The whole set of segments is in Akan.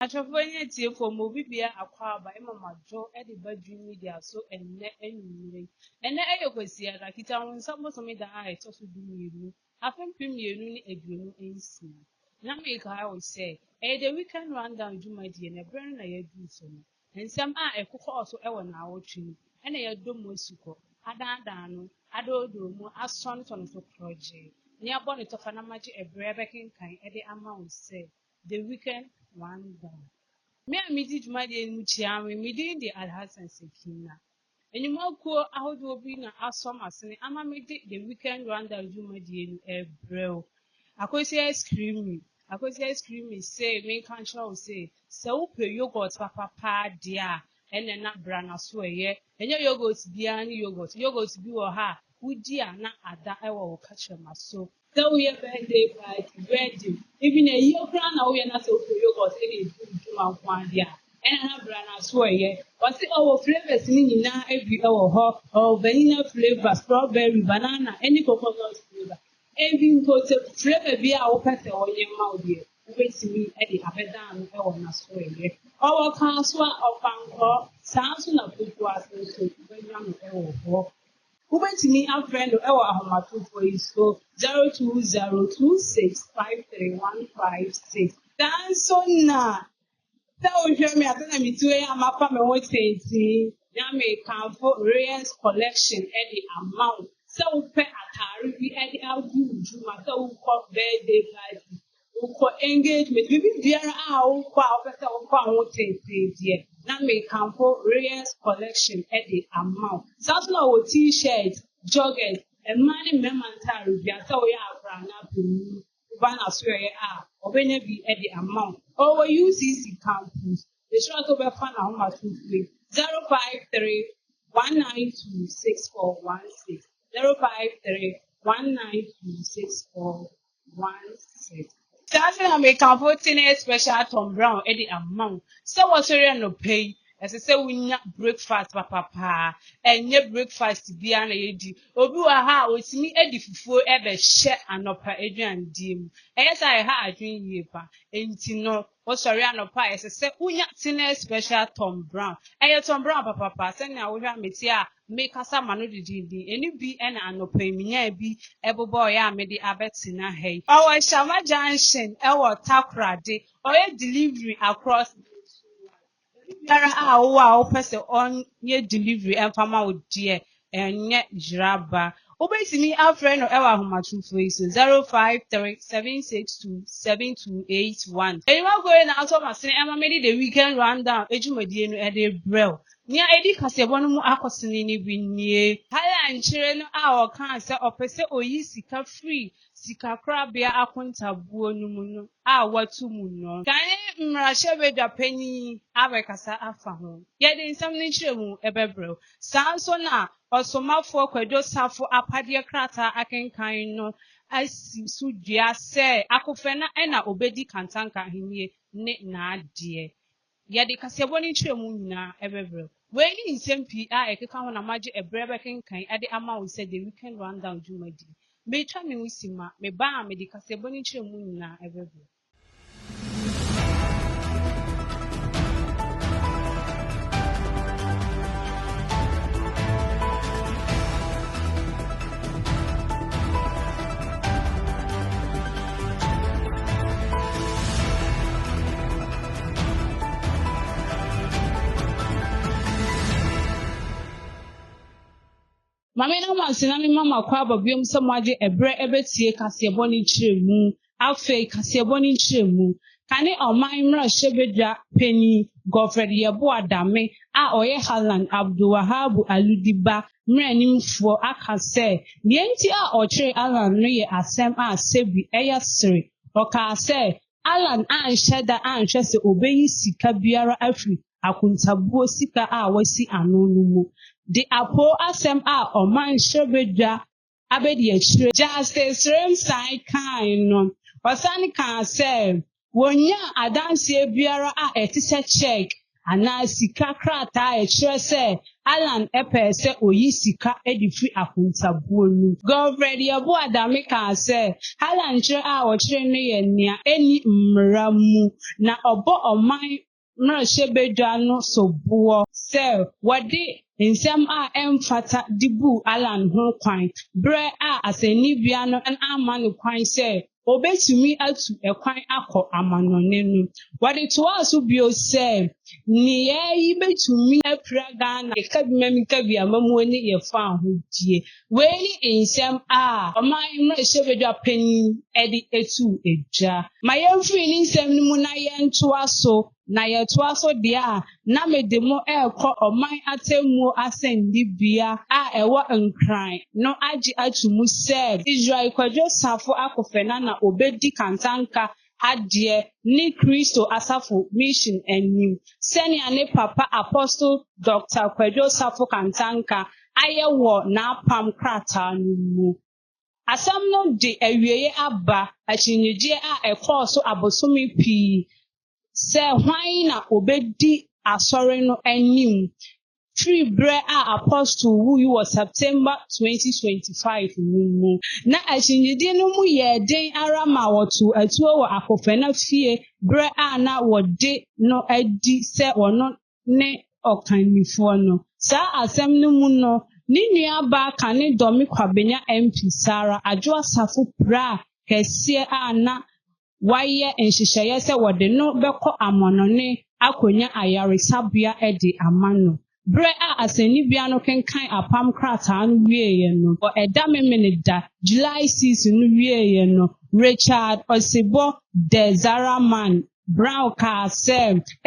Ahwɛfoɔ ne atiefoɔ, mo obi biara akwaaba ɛma mo adwo de ba Dream Media so ɛnnɛ anwummere. Ɛnnɛ ɛyɛ Kwasiada, Kitahonsa bosome da a ɛtɔ so du mmienu, afe mpem mmienu ne aduonu nsia. Na mekae wo sɛ, ɛyɛ The Weekend Rundown dwumadie na ɛberɛ no na yɛaduru so no. Nsɛm a ɛkokɔɔ so wɔ naawɔtwe mu na yɛadɔ mu asukɔ, adaadaa no, adoodoo mu, asɔnetɔ no so korɔgyee. Nea bɔ ne tɔfa na magye ɛberɛ bɛkenkan de ama wo sɛ. The Wicked One Gone. Me a midi dwumadie no mu kyia me, me din de Alhassan Sekina. Nnwumakuo ahodoɔ bi na asɔ m'asene ama mede The Weekend Rundown dwumadie no ɛbrɛ wo. Akwasi Ice Creamy, Akwasi Ice Creamy se menka nkyerɛ wo se, sɛ wopɛ yogurt papapaa deɛ a, ɛnɛ na bra na so ɛyɛ. Ɛnyɛ yogurt biara ne yogurt. Yogurt bi wɔ ha a, wodi a na ada wɔ wo kakyɛma so. Sɛ woyɛ birthday party, wedding, even ayie koraa na woyɛ na sɛ wopɛ yogurt na edi wo dwuma nko ara deɛ a, ɛna na bra na so ɛyɛ. Wɔse ɔwɔ flavours no nyinaa bi wɔ hɔ. Ɔwɔ vanilla flavour, strawberry, banana ɛne coconut flavour. Even mpo sɛ flavour biara a wopɛ sɛ wɔyɛ ma wo deɛ, wobɛtumi de abɛda ano wɔ na so ɛyɛ. Ɔwɔ kasoa, ɔpankɔ, saa nso na pokuase nso wobɛnya no wɔ hɔ. Wobɛtumi afrɛ no wɔ ahomatrofoɔ yi so 0202653156. Nanso na sɛ wohwɛ me asa na meti wei a mafa me ho tenten na mekamfo Reyes collection de ama wo sɛ wopɛ atare bi de agu wo dwuma sɛ wokɔ birthday party Wokɔ engagement, biribi biara a wokɔ a wopɛ sɛ wokɔ a wo tenten deɛ na mekamfo Reyes collection de ama wo. Saa nso na wɔ t-shirt, joggers, mmaa ne mmarima ntaare biara sɛ woyɛ akora anaa panin woba n'asoɛeɛ a wɔbɛnya bi de ama wo. Ɔwɔ UCC campus. Mehyira sɛ wobɛfa n'ahomasofoɔ yi 053 192 6416 053 192 6416. One six. Saa nti na mekamfo tene special Tom Brown de ama wo sɛ wɔsɔre anɔpa yi ɛsɛ sɛ wonya breakfast papapaa ɛnyɛ breakfast biara na yɛdi obi wɔ ha a ɔtumi adi fufuo ɛbɛhyɛ anɔpa aduandie mu ɛyɛ sɛ ɛha adwene yie pa nti no Wosɔre anɔpa a ɛsɛ sɛ wunya Teenage Special Tom Brown. Ɛyɛ Tom Brown papapa. Sɛnea wohwɛ a mete a mekasa ma no didindin. Ɛno bi na anɔpa yi minyaa bi bobɔɔe a mede abɛtena ha yi. Ɔwɔ Shama Junction wɔ Takoradi. Ɔyɛ delivery across Nigeria. Biribiara a wowɔ a wopɛ sɛ ɔnyɛ delivery ɛmfa ma wo deɛ ɛnyɛ yeraba. Wobɛtumi afrɛ no ɛwɔ ahomatorofo yi so 053 762 7281. Aniwa Goye na ato m'asene ɛma mede The Weekend Rundown adwumadie no ɛde rebrɛ wo. Nea ɛdi kaseɛbɔ no mu akɔsene no bi nie. Haaland kyerɛ no a ɔkaa sɛ ɔpɛ sɛ ɔyi sika firi sikakorabea akontabuo no mu no a wɔatu mu no. Gane mmarahyɛbadwa panin yi abɛkasa afa ho. Yɛde nsɛm no nkyerɛmu bɛbrɛ wo. Saa nso na Ɔsomafoɔ Kwadwo Sarfo apadeɛ krataa akenkan no asi so dua sɛ Akofena na ɔbɛdi Kantanka ahennie ne n'adeɛ Yɛde kaseɛbɔ no nkyerɛmu nyinaa bɛbrɛ wo. Wei ne nsɛm pii a ɛkeka ho na magye ɛberɛ bɛkenkan de ama wo sɛ The Weekend Rundown dwumadie. Meretwa me ho simma, meba a, mede kaseɛbɔ no nkyerɛmu nyinaa bɛbrɛ wo. Ma me na mo ase na mema mo akwaaba biom sɛ moagye ɛberɛ ɛbɛtie kaseɛbɔ ne nkyerɛmu. Afei kaseɛbɔ ne nkyerɛmu. Kane ɔman mmarahyɛ badwa panin Godfred Yeboah Dame a ɔyɛ Halland Abdul Wahab Aludi ba mmaranimfoɔ aka sɛ deɛ nti a ɔkyeree Allan no yɛ asɛm a Sebbi ɛyɛ sere. Ɔkaa sɛ Alan anhyɛ da anhwɛ sɛ obeyi sika biara afi akontabuo sika a wasi ano no mu de apoo asɛm a ɔmanhyɛ badwa abadiakyire Justice Remsai kae no. Ɔsan kaa sɛ, Wonnyaa adanseɛ biara a ɛte sɛ cheque anaa sika krataa a ɛkyerɛ sɛ Allan pɛɛ sɛ oyi sika de firi akontabuo no. Govred Yeboah Adame kaa sɛ Allan kyerɛ a wɔkyeree no yɛ nea ɛnni mmara mu na ɔbɔ ɔman mmarahyɛbadwa no soboɔ sɛ wɔde nsɛm a ɛmfata de buu Allan ho kwan berɛ a asɛnnibea no amma no kwan sɛ obetumi atu kwan akɔ amannɔne no. Wɔde toaa so bio sɛ, Nneyɛe yi betumi apira Ghana Kabimamikabea Amammuo ne yɛn fawohodie. Wei ne nsɛm a ɔman mmarahyɛbadwa panin de too dwa. Ma yɛmfiri ne nsɛm no mu na yɛntoa so na yɛtoa so deɛ a, na mede mo rekɔ ɔman atemmuo asɛnnibea a ɛwɔ Nkran no agye ato mu sɛ Israel Kwadwo Safo akofena na ɔbɛdi kantanka adeɛ ne Kristo Asafo Mission anim, sɛnea ne papa Apostle Doctor Kwadwo Safo Kantanka ayɛ wɔ n'apam krataa no mu. Asɛm no de awieeɛ aba akyinnyegyeɛ a ɛkɔɔ so abosome pii sɛ hwan na ɔbɛdi Asɔre no anim firi berɛ a Apostle wui wɔ September 2025 no mu. Na akyinnyegyeɛ no mu yɛɛ den ara ma wɔtoo atuo wɔ Akofena fie berɛ a na wɔde no adi sɛ ɔno ne ɔkannifoɔ no. Saa asɛm no mu no, ne nuabaa kane Dormy Kwabenya MP Sarah Adwo Asafo piraa kɛseɛ a na wɔayɛ nhyehyɛeɛ sɛ wɔde no bɛkɔ amannɔne akɔnya ayaresabea de ama no. Berɛ a asɛnnibea no kenkan apam krataa no wieeɛ no, wɔ ɛda Memeneda, July six, no wieeɛ no, Richard Osebɔ Dezaraman Brown kaa sɛ,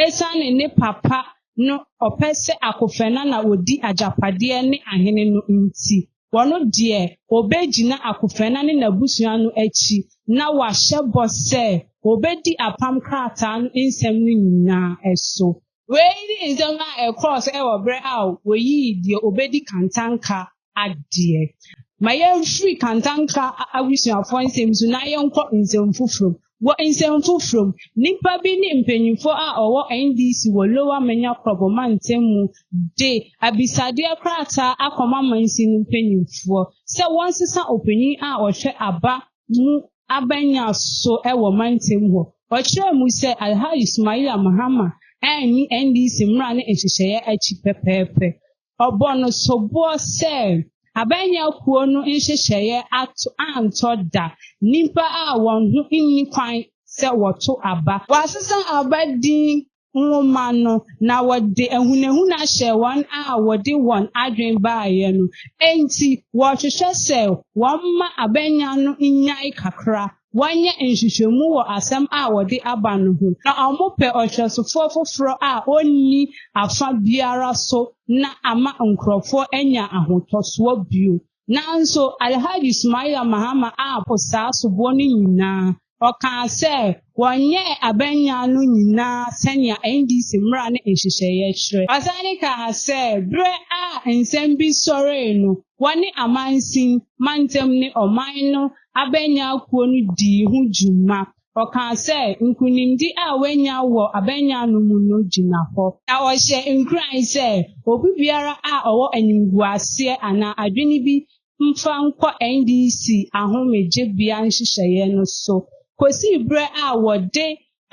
esiane ne papa no ɔpɛ sɛ Akofena na odi agyapadeɛ ne ahene no nti, ɔno deɛ ɔbɛgyina Akofena ne n'abusua no akyi na wahyɛ bɔ sɛ ɔbɛdi apam krataa no nsɛm no nyinaa so. Wei ne nsɛm a ɛkɔɔ so wɔ berɛ a wɔyii deɛ ɔbɛdi kantanka adeɛ. Ma yɛmfiri kantanka abusuafoɔ nsɛm so na yɛnkɔ nsɛm foforɔ mu. Wɔ nsɛm foforɔ mu, nnipa bi ne mpanimfoɔ a wɔwɔ NDC wɔ Lower Manya Krobo mantam mu de abisadeɛ krataa akɔma mansin no mpanimfoɔ sɛ wɔnsesa ɔpanin a ɔhwɛ aba mu abanya so wɔ mantam hɔ. Ɔkyerɛɛ mu sɛ Alhaji Sumaila Mahama anni NDC mmara ne nhyehyɛeɛ akyi pɛpɛɛpɛ. Ɔbɔ no soboɔ sɛ abanya kuo no nhyehyɛeɛ ato antɔ da nnipa a wɔn ho nni kwan sɛ wɔto aba. Wɔasesa aba din nwoma no, na wɔde ahunahuna hyɛɛ wɔn a wɔde wɔn adwene baeɛ no. Enti wɔhwehwɛ sɛ wɔmma abɛnya no nnyae kakra, wɔnyɛ nhwehwɛmu wɔ asɛm a wɔde aba no ho, na wɔpɛ ɔhwɛsofoɔ foforɔ a ɔnni afa biara so na ama nkurɔfoɔ anya ahotɔsoɔ bio. Nanso Alhaji Sumaila Mahama ampo saa soboɔ no nyinaa. Ɔkaa sɛ wɔnyɛɛ abannyaa no nyinaa sɛnea NDC mmara ne nhyehyɛeɛ kyerɛ. Ɔsane kaa sɛ berɛ a nsɛm bi sɔree no, wɔne amansin, mantam ne ɔman no abannyaa kuo no dii ho dwuma. Ɔkaa sɛ, Nkonimdi a wanya wɔ abanyan no mu no gyina hɔ. Na ɔhyɛ nkuran sɛ obi biara a ɔwɔ animguaseɛ anaa adwene bi mfa nkɔ NDC ahomegyebea nhyehyɛeɛ no so. Kɔsii berɛ a wɔde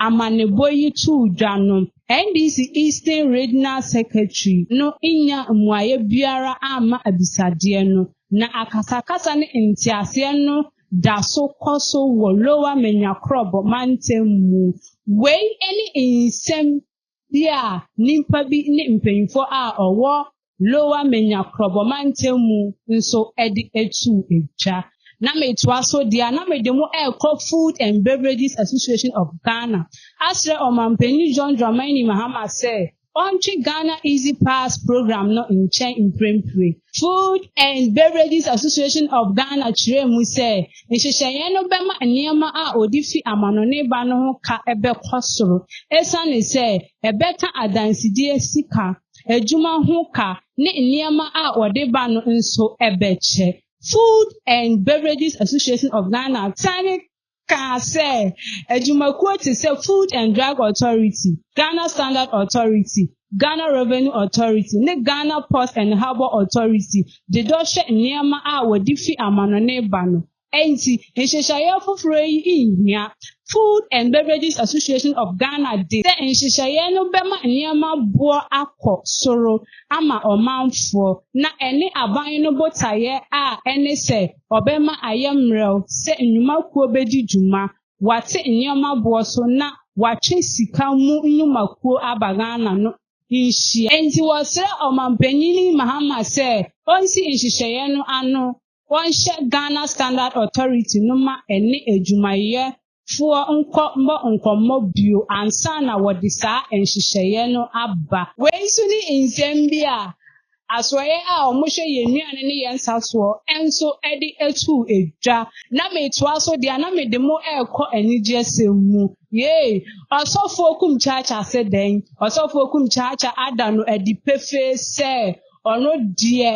amanebɔ yi too dwa no, NDC Eastern Regional Secretary no nnya mmuaeɛ biara amma abisadeɛ no, na akasakasa ne nteaseɛ no da so kɔ so wɔ Lower Menyakrɔbɔ mantam mu. Wei ne nsɛm bi a nnipa bi ne mpanyimfoɔ a ɔwɔ Lower Menyakrɔbɔ mantam mu nso de atuu dwa. Na metoa so deɛ a na mede mo ɛrekɔ Food and Beverages Association of Ghana asrɛ Ɔmanpanin John Dramani Mahama sɛ Ɔntwe Ghana Easy Pass Programme no nkyɛn mprempren. Food and Beverages Association of Ghana kyerɛɛ mu sɛ nhyehyɛeɛ no bɛma nneɛma a wɔde fi amanɔne ba no ho ka bɛkɔ soro esiane sɛ ɛbɛka adansedie sika, adwuma ho ka ne nneɛma a wɔde ba no nso bɛkyɛ. Food and Beverages Association of Ghana Senate kaa sɛ adwumakuo te sɛ Food and Drug Authority, Ghana Standard Authority, Ghana Revenue Authority ne Ghana Port and Harbour Authority de dɔ hwɛ nneɛma a wɔde fi amanɔne ba no. Enti, nhyehyɛeɛ foforɔ yi nhia. Food and Beverages Association of Ghana de sɛ nhyehyɛeɛ no bɛma nneɛma boɔ akɔ soro ama ɔmanfoɔ na ɛne aban no botaeɛ a ɛne sɛ Ɔbɛma ayɛ mmerɛw sɛ nnwuma kuo bɛdi dwuma, wɔate nneɛma boɔ so na wɔatwe sika mu nnwuma kuo aba Ghana no nhyia. Enti wɔsrɛ Ɔmanpanin Mahama sɛ ɔnsi nhyehyɛeɛ no ano, wɔnhyɛ Ghana Standard Authority no ma ɛne adwumayɛ foɔ nkɔ mmɔ nkɔmmɔ bio ansa na wɔde saa nhyehyɛeɛ no aba. Wei nso ne nsɛm bi a asoɛeɛ a wɔhwɛ yɛn nnuane ne yɛn nsa soɔ nso de too dwa. Na metoa so deɛ a na mede mo rekɔ anigyesɛm mu. Yei, Ɔsɔfoɔ Kum Kyaakya se dɛn? Ɔsɔfoɔ Kum Kyaakya ada no adi pefee sɛ Ɔno deɛ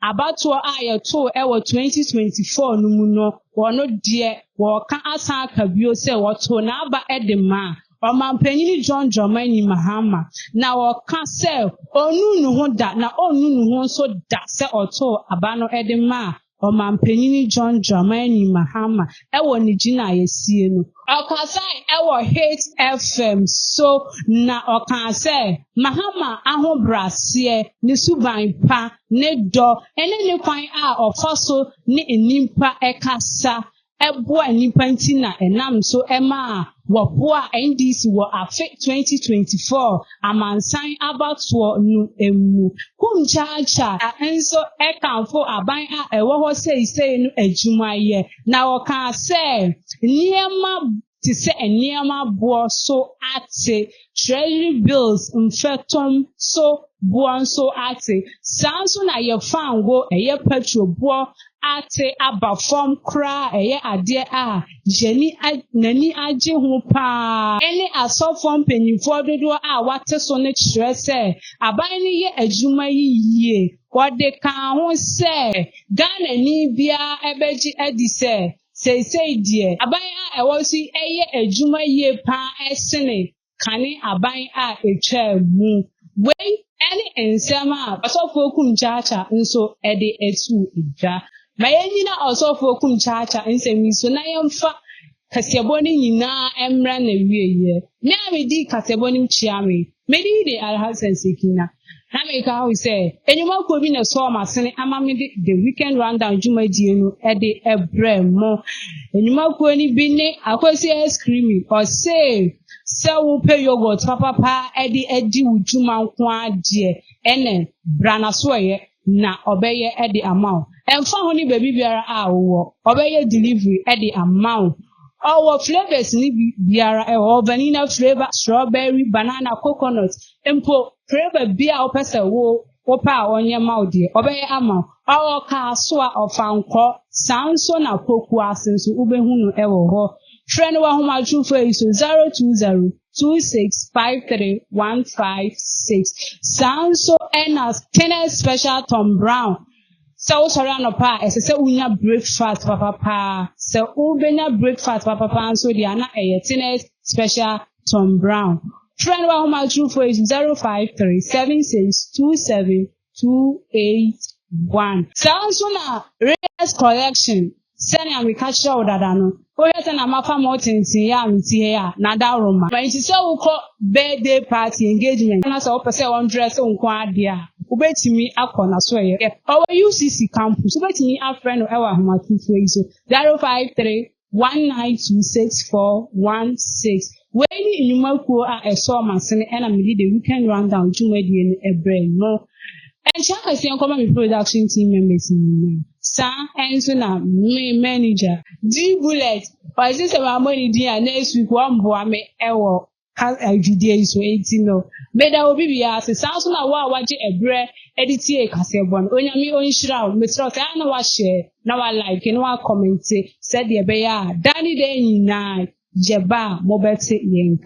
abatoɔ a yɛtoo wɔ 2024 no mu no, ɔno deɛ wɔreka asan aka bio sɛ wɔtoo n'aba de maa Ɔmampanin John Dramani Mahama, na wɔka sɛ ɔnnuu ne ho da na ɔrennu ne ho nso da sɛ ɔtoo aba no de maa Ɔmampanyin John Dramani Mahama wɔ ne gyinaeɛsie no. Ɔkasae wɔ Hit FM so na ɔkaa sɛ Mahama ahobraseɛ, ne suban pa, ne dɔ ne ne kwan a ɔfa so ne nnipa kasa boa nnipa nti na ɛnam so maa wɔboa NDC wɔ afe 2024 amansan abatoɔ no mu. Kum Kyakya nso kamfo aban a ɛwɔ hɔ seisei no adwumayɛ, na ɔkaa sɛ nneɛma te sɛ nneɛma boɔ so ate, Treasury bills mfɛtom so boɔ nso ate. Saa nso na yɛ fango, ɛyɛ petrol boɔ ate aba fam koraa a ɛyɛ adeɛ a yɛni n'ani agye ho pa ara ne asɔfoɔ mpanimfoɔ dodoɔ a wɔate so no kyerɛ sɛ aban no yɛ adwuma yi yie. Ɔde kaa ho sɛ, Ghanani biara bɛgye adi sɛ Seesei deɛ, aban a ɛwɔ so yi yɛ adwuma yie pa ara sene kane aban a ɛtwaa mu. Wei ne nsɛm a Ɔsɔfoɔ Kum Kyaakya nso de too dwa. Ma yɛnnyina Ɔsɔfoɔ Kum Kyaakya nsɛm yi so na yɛmfa kaseɛbɔ no nyinaa mmra n'awieeɛ. Me a medi kaseɛbɔ no mu kyea me, me din de Alhassan Sekina. na meka ho sɛ enyimakuo bi na ɛsɔɔ m'asene ama me de the weekend rundown dwumadie no de brɛ mo enyimakuo no bi ne akwasi ice cream ɔse sɛ wopɛ yogurt papapa de adi wo dwuma nko ara deɛ ɛnɛ bra na so ɛyɛ na ɔbɛyɛ de ama wo ɛmfa ho ne baabi biara a wowɔ ɔbɛyɛ delivery de ama wo ɔwɔ flavors ne biara ɛwɔ vanilla flavor strawberry banana coconut mpo flavor bi a wopɛ sɛ wo wopɛ a ɔnyɛ ma wo deɛ ɔbɛyɛ ama wo ɔwɔ kaasoa ɔfa nkɔ saa nso na pokuase nso wobɛhu no ɛwɔ hɔ frɛ no wɔ ahomatrofo yi so 020 2653156 saa nso ɛna Kenneth Special Tom Brown sɛ wosɔre anɔpa a ɛsɛ sɛ wonya breakfast papapa sɛ wobɛnya breakfast papapa nso deɛ na ɛyɛ Kenneth Special Tom Brown frɛ no wahoma aturufo 05376272 281. Saa nso na Reyes Collection, sɛnea meka kyerɛɛ wo dada no, wohwɛ sɛ na mafa ma wo tenten yɛ a mete hɛ a, na daworo ma. Enti sɛ wokɔ birthday party, engagement, na sɛ wopɛ sɛ wɔndrɛse wo nko ara deɛ a, wobɛtumi akɔ n'asoɛeɛ. Ɔwɔ UCC campus, wobɛtumi afrɛ no wɔ ahomatorofoɔ yi so, 053 19264116 Wei ne nnwuma kuo a ɛsɔɔ m'asene ɛna mede The Weekend Rundown dwumadie no ɛbrɛɛ mo. Nhyira kɛseɛ nkɔma me production team members nyinaa. Saa ɛnso na me manager. D-Bullet, ɔse sɛ mammɔ ne din a next week wɔmboa me ɛwɔ. dwudie yi so enti no meda obi biara ase saa nso na wo a wagye ɛberɛ de tie kaseɛbɔ no onyame ɔnhyira wo meserɛ sɛ a na wahyɛ na walike na wakɔmente sɛdeɛ ɛbɛyɛ a daa ne daa nyinaa yɛba a mobɛte yɛn nka